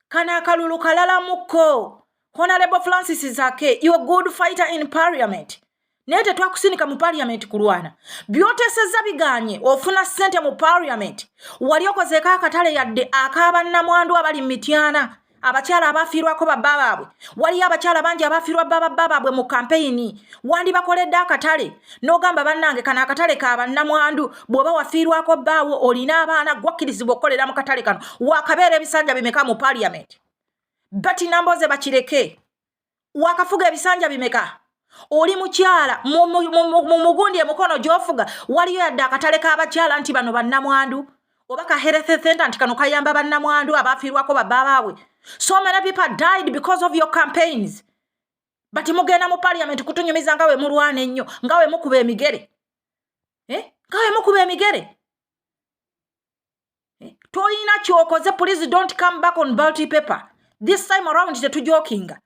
kano akalulu kalalamukko honalebo francis zake you good fighter in parliament naye tetwakusindika mu parliament kulwana byoteseza biganye ofuna sente mu parliament wali okozeeko akatale yadde akabannamwandu abali mu mityana abakyala abafiirwako babba baabwe waliyo abakyala bangi abafiirwa bababba baabwe mu kampeyini wandibakoledde akatale n'ogamba bannange kano akatale ka bannamwandu bw'oba wafiirwako bbaawo olina abaana gwakkirizibwa okukolera mu katale kano wakabeera ebisanja bimeka mu parliament bati namboze bakireke wakafuga ebisanja bimeka oli mukyala mu mugundi emukono gyofuga waliyo yadde akatale k'abakyala nti bano bannamwandu oba ka health center nti kano kayamba bannamwandu abaafiirwako babaabaabwe so many people died because of your campaigns but mugenda mu parliament kutunyumiza nga we mulwana ennyo nga we mukuba emigere eh? nga wemukuba emigere eh? tolina kyokoze please don't come back on balty paper this time around tetujokinga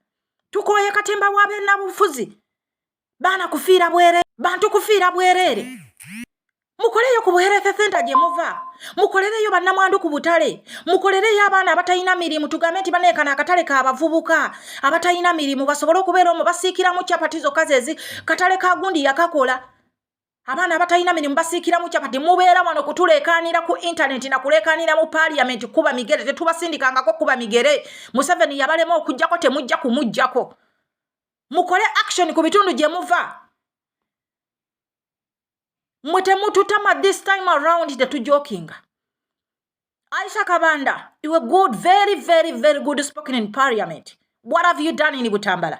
tukoye katemba wabenabufuzi baana kufiira bwerere bantu kufiira bwerere mukoleyo ku buherese senta gye muva mukolereyo bannamwandu ku butale mukolereyo abaana abatalina mirimu tugambe nti baneekana akatale ka bavubuka abatalina mirimu basobole okubeera omu basiikiramu capati zokka zezi katale ka gundi yakakola abaana abatalina mirimu basiikiramu kyapa temubeera wano kutuleekaanira ku intaneti na kuleekaanira mu paaliyamenti kuba migere tetubasindikangako kuba migere museveni yabalema okugyako temujja kumugyako mukole action ku bitundu gye muva mwe temututama this time around tetujokinga Aisha Kabanda, you were good, very, very, very good spoken in parliament. What have you done in Butambala?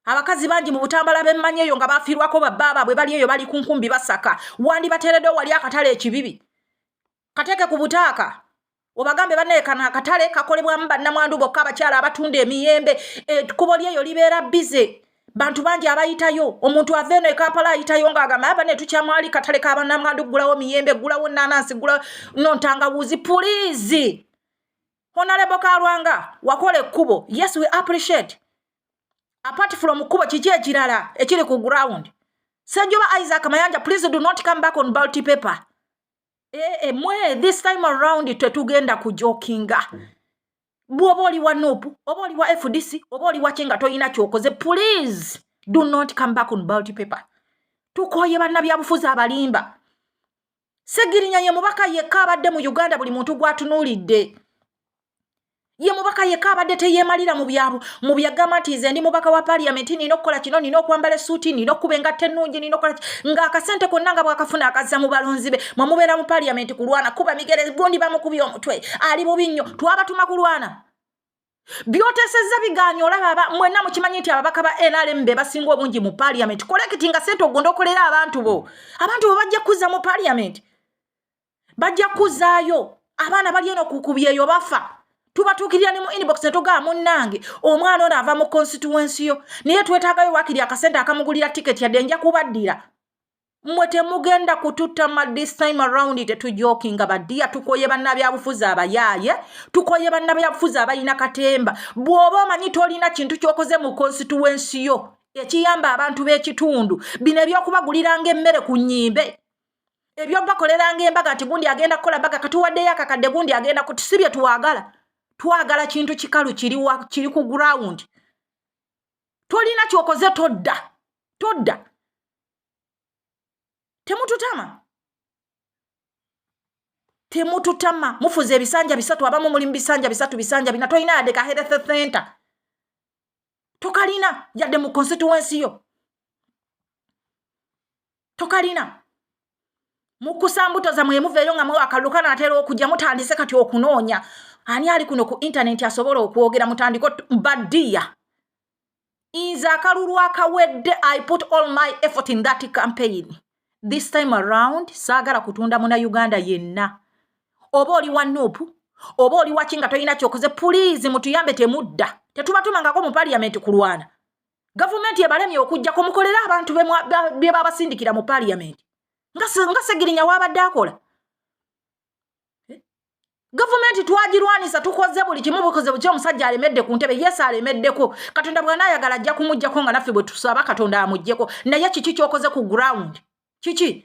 abakazi bangi mu butambala bemmanyi eyo nga bafiirwako babbaaba bwe bali eyo bali ku nkumbi basaka wandibateereddewo wali akatale ekibibi kateeke ku butaaka obagambe baneekana akatale kakolebwamu bannamwandu bokka abakyala abatunda emiyembe ekkubo lyeyo libeera bize bantu bangi abayitayo omuntu ava eno ekampala ayitayo ngaagamba aba netukyamwali katale kabanamwandu kugulawo miyembe gulawo nanansi gula nontangawuzi pulizi honalebo kalwanga wakola ekkubo yes we appreciate apart from kkubo kiki ekirala ekiri ku ground senjoba isaac mayanja please do not come back on balty paper ee eh, eh, mwe this time around tetugenda kujokinga bwoba oli wa nup oba oli wa fdc oba oli waki nga tolina kyokoze please do not come back on balt paper tukoye bannabyabufuzi abalimba segirinya ye mubaka yekka abadde mu uganda buli muntu gwatunuulidde ye mubaka yekka abadde teyeemalira mu byabu mu byagamba nti nze ndi mubaka wa parliament nina okukola kino nina okwambala esuuti nina okukuba engatta ennungi nina okukola ng'akasente konna nga bwakafuna akazza mu balonzi be mwe mubeera mu parliament kulwana kuba migere gundi bamukubye omutwe ali bubi nnyo twabatuma kulwana byotesezza biganye olaba aba mwenna mukimanyi nti ababaka ba nrm be basinga obungi mu parliament kolekiti nga sente ogonda okolera abantu bo abantu bo bajja kuzza mu parliament bajja kuzaayo abaana bali eno kukubyeyo bafa tubatuukirira ne mu inbox ne tugaa munnange omwana ono ava mu constituensi yo naye twetaagayo wakiri akasente akamugulira tiketi yadde nja kubaddira mwe temugenda kututama this time around tetujokinga badiya tukoye bannabyabufuzi abayaaye tukoye bannabyabufuzi abalina katemba bw'oba omanyi tolina kintu kyokoze mu constituensi yo ekiyamba abantu b'ekitundu bino ebyokubaguliranga emmere ku nyimbe ebyobakoleranga embaga nti gundi agenda kukola mbaga katuwaddeyo akakadde gundi agenda kuti si bye twagala twagala kintu kikalu kiri ku gurawundi tolina kyokoze todda todda temututama temututama mufuza ebisanja bisatu abamu mulimu bisanja bisatu bisanja bina tolina yadde ka health center tokalina yadde mu constituensi yo tokalina mukusa mbuto zamwe muveeyo nga mwe akalulu kana atera okujja mutandise kati okunoonya ani ali kuno ku intaneti asobola okwogera mutandiko badiya nze akalulu akawedde i put all my effort in that campaign this time around saagala kutunda muna uganda yenna oba oli wa nupu oba oli waki nga tolina kyokoze puliizi mutuyambe temudda tetubatumangako mu paliyamenti kulwana gavumenti ebalemye okujjako mukolere abantu bye babasindikira mu paliyamenti nga segirinya waabadde akola eh? gavumenti twagirwanisa tukoze buli kimu bukoze buki omusajja alemedde ku ntebe yesu alemeddeko katonda bwanaayagala ajja kumujjako nga naffe bwe tusaba katonda amujjeko naye kiki kyokoze ku ground kiki